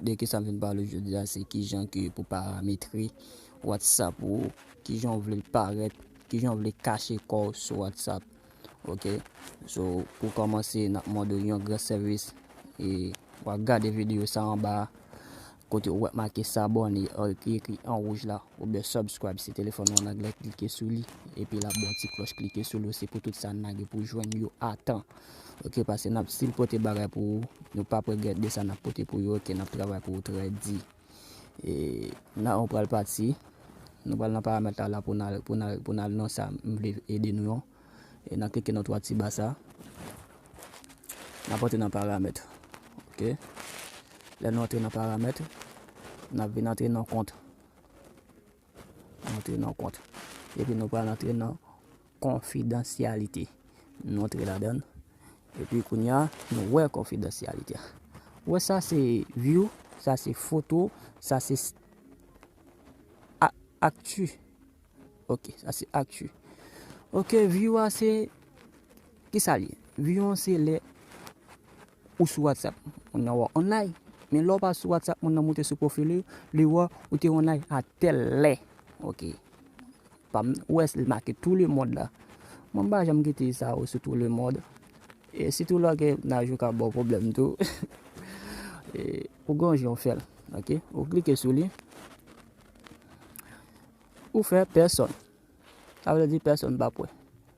De kisa m vin pale jodi a se kijan ke pou parametre whatsapp ou, kijan ou vle l parèt, kijan ou vle kache kò w sou whatsapp ok so pou kòmanse n ap mande w yon gran sèvis e w a gade videyo sa anba a kote ou wè make s'abonner ki ekri an wouj la oubyen subscribe si telefòn ou an anglè klike sou li epi la gen yon ti klòch klike sou li osi pou tout sa n lage pou jwenn yo a tan. Ok pase nap sil pote bagay pou ou nou pap regret de sa nap pote pou yo ok nap travay pou ou trè di e nan ou pral pati nou pral nan paramèt la la pou nan pou nan pou nan nan sa m vle ede nou an e nan klike nan 3 ti ba sa nan pote nan paramèt ok lè nou antre nan paramèt nan vin antre nan kont antre nan kont epi nou pral antre nan Konfidansyalite nou antre ladan l. Epi kounye a nou wè konfidansyalite a. Ou wè sa se view, sa se foto, sa se actu. Ok, sa se actu. Ok, view a se, ki sa li? View an se lè. Ou sou whatsapp moun nan wè w online men lè w pa sou whatsapp moun nan moute sou profil li li wè ou te online a tèl lè ok pam nan ou wè li make tou le mond la mwen m pa janm kite sa yo sou tou le mond e sitou lè gen naj yo ka baw pwoblèm tou e ou gon jan w fè l ok ou klike sou li ou fè pèsòn sa vle di pèsòn pa p wè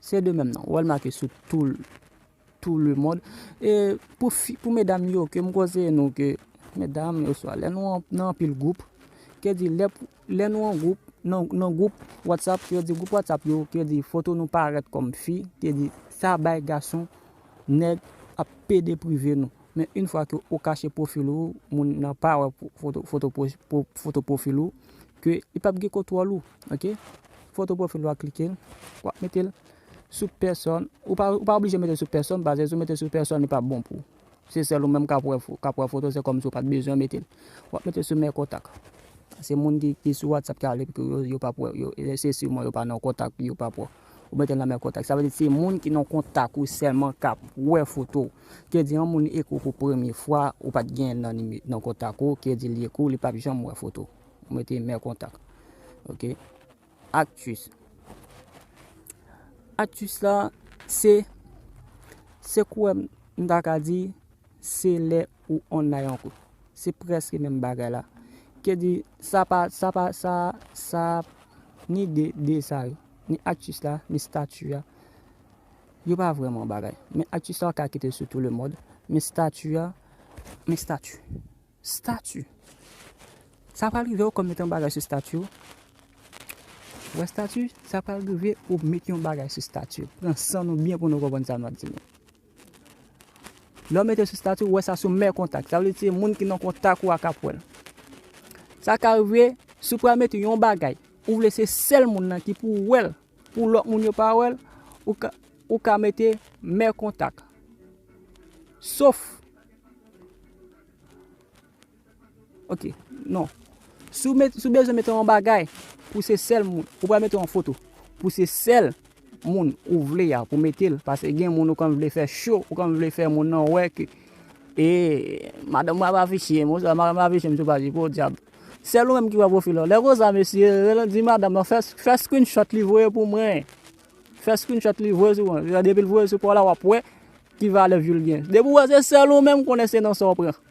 Se de menm nan. Wèl make sou tou tou le mond. E pou fi pou medam yo ke m konseye nou ke medam yo swa lè nou nan anpil gwoup. Ke di lè pou lè nou an gwoup nan nan gwoup WhatsApp ke di gwoup WhatsApp yo ke di foto nou parèt kòm fi. Ke di sa bay gason nèg ap pede prive nou. Men yn fwa ke ou kache profil ou moun nan pa wè foto profil ou ke li pap gen kontwòl ou ok foto profil ou a klikel wap metel sou pèsòn ou pa oblije metel sou pèsòn paske sou metel sou pèsòn li pap bon pou se sèl ou menm kap wè kap wè foto se kòm si ou pat bezwen metel wap metel sou mè kontak se moun ki sou whatsapp ki ale pou yo yo pap wè yo se siw mwen yo pa nan kontak yo pap wè. Ou mete l nan men kontak. Sa vle di se moun ki nan kontak ou sèlman k ap wè foto w. Kè di yon moun ekri w pou premye fwa, ou pa t genyen l nan kontak ou, kè di li ekri w, li p ap janm wè foto w. Ou mete mè kontak. Ok. Aktis. Aktis la, se, se kouwè m m ta ka di, se lè ou online an kou. Se prèske menm bagay la. Kè di, sa pa, sa pa, sa, sa, ni de, de sa yo. Ni aktis la, ni stati a, yo pa vrèman bagay. Men aktis la ou ka kite l sou tou le mond, men stati a, men stati. Stati! Sa pral rive ou kòm met yon bagay sou stati ou. Wè stati, sa pral rive ou met yon bagay sou stati ou. Pran san nou byen pou nou konprann sa m ap di nou. Lè w mete l sou stati, ou wè sa sou mè kontak. Sa vle se moun ki nan kontak ou a kap wè l. Sa ka rive, si w pral mete yon bagay, ou vle se sèl moun nan ki pou wè l, pou lòt moun yo pa wè l, ou ka mete mè kontak. Sof. Ok, non. Si w bezwen mete yon bagay pou se sèl moun, ou pral mete yon foto pou se sèl moun ou vle ya pou mete l. Pase gen moun ou konn vle fè cho, ou konn vle fè moun nan wè ke e madanm mwen ap afiche m, oswa madanm mwen ap afiche m sou paj li, podyab. Sèl ou menm ki wè pwofil ou. Lè konsa mesye, di madanm nan fè screenshot li voye pou mwen. Fè screenshot li voye sou mwen. Depi l voye sou pa w la w ap wè ki valè view l gen. Depi w wè se sèl ou menm konnen se nan sa w pran.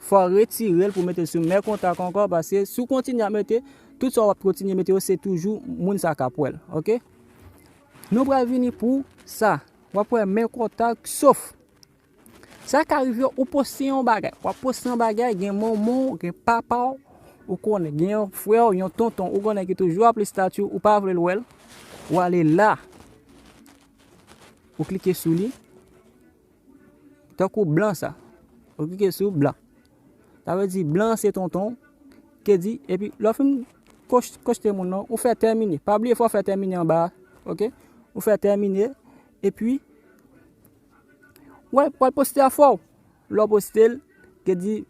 Fò retirel pou metel sou mè kontak ankò paske si w kontinye ap mete tout sa wap kontinye mete yo se toujou moun sa kap wèl ok nou pral vini pou sa wap wè mè kontak sof sa ka rive ou poste yon bagay wap poste yon bagay gen manman w gen papa w ou konnen gen yon frè w yon tonton ou konnen ki toujou ap li stati ou pa vle l wèl ou ale la ou klike sou li. Tankou blan sa. Ou klike sou blan. Sa vle di blan se tonton ke di epi lò fin kochte moun nan ou fè termine. Pa bliye fò fè termine anba. Ok? Ou fè termine epi wè wè poste a fò. Lò poste l ke di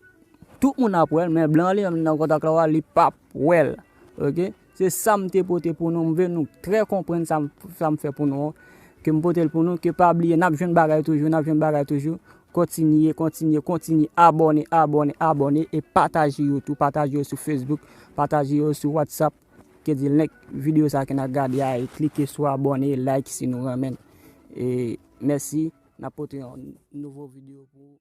tout moun ap wè l men blan li menm nan kontak la li pap wè l. Ok? Se sa m te pote pou nou, m vle nou trè konprann sa m fè pou nou an, ke m pote l pou nou, ke pa bliye n ap jwenn bagay toujou, n ap jwenn bagay toujou, kontinye, kontinye, kontinye, abòne, abòne, abòne, e pataje yo tou, pataje yo sou Facebook, pataje yo sou WhatsApp, ke di link videyo sa ke n ap gade a, e klike sou abòne, e like si nou renmen l. E mèsi, n ap pote yon nouvo videyo pou nou.